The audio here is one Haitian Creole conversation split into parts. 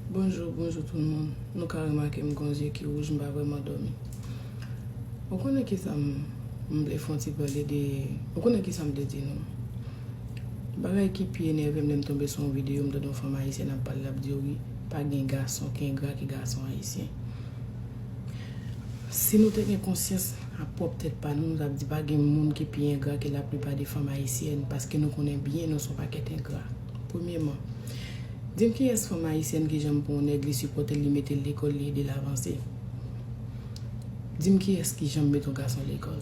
Bonjou bonjou tout moun nou ka remake m gon zye ki wouj m pa vreman domi ou konnen kisa m m vle fon ti pale de ou konnen kisa m vle di nou bagay ki pi enève m lè m tonbe sou yon videyo m tande yon fanm ayisyèn ap pale lap diw li pa gen gason ki engra ke gason ayisyen si nou te gen konsyans ak pwòp tèt pa nou nou tap di pa gen moun ki pi engra ke la plipa de fanm ayisyèn paske nou konnen byen nou son pakèt engra. Premyeman, di m kiyès fanm ayisyèn ki janm pran yon nèg li sipòte l li mete l lekòl li ede l avanse? Di m kiyès ki janm mete yon gason lekòl?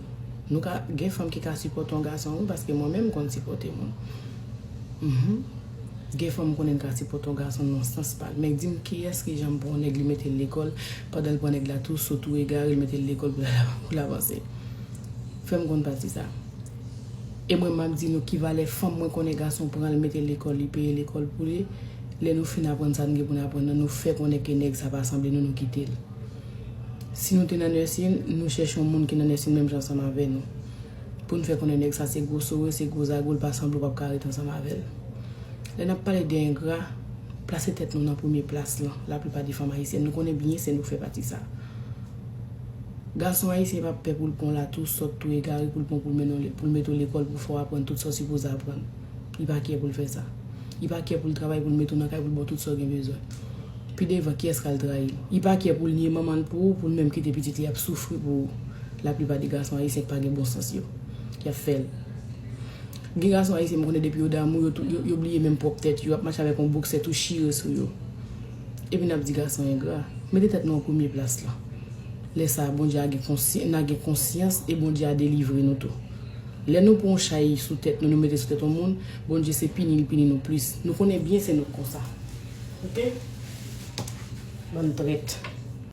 Nou ka gen fanm ki ka sipòte yon gason wi paske mwen menm m konn sipòte moun humm gen fanm m konnen ki ka sipòte yon gason nan sans pa l men di m kiyès ki janm pran yon nèg li mete l lekòl pandan l pran nèg la tou sou tou egare l mete l lekòl pou l avanse fè m konn pati sa. E mwen map di nou ki valè fanm mwen konnen gason pranl metel lekòl li peye lekòl pou li lè nou fin aprann sa nou gen pou nou aprann nan nou fè konnen ke nèg sa pa sanble nou nou kitel si nou te nan nèsin nou chèche yon moun ki nan nèsin menm jan ansanm avè nou poun fè konnen nèg sa se gwo sore se gwo zago li pa sanble ou pap ka ret ansanm avèl lè nap pale de engra plase tèt nou nan premye plas lan laplipa de fanm ayisyèn nou konnen byen se nou ki fè pati sa. Gason ayisyen pa pè pou l pran w la tou sòt tou egare pou l pran w pou l mennen w pou l mete w lekòl pou fè w aprann tout sa w sipoze aprann. Li pa kyè pou l fè sa. Li pa kyè pou l travay pou l mete w nan kay pou l ba w tout sa w gen bezwen. Pi devan kiyès k al trayi l? Li pa kyè pou l nye manman l pou ou pou l menm kite pitit li ap soufri pou ou. Laplipa de gason ayisyen k pa gen bon sans yo. Y ap fè l. Gen gason ayisyen m konnen depi yo damou yo tou yo bliye menm pwòp tèt yo. Yo ap mache avèk yon boksè tou chire sou yo. Epi nap di gason engra. Mete tèt nou an premye plas lan. Lè sa a Bondye a gen konsy na gen konsyans e Bondye a delivre nou tou. Lè nou pran yon chay sou tèt nou nou mete sou tèt yon moun, Bondye se pini li pini nou plis. Nou konnen byen se nou k konsa. Ok? Bann trèt.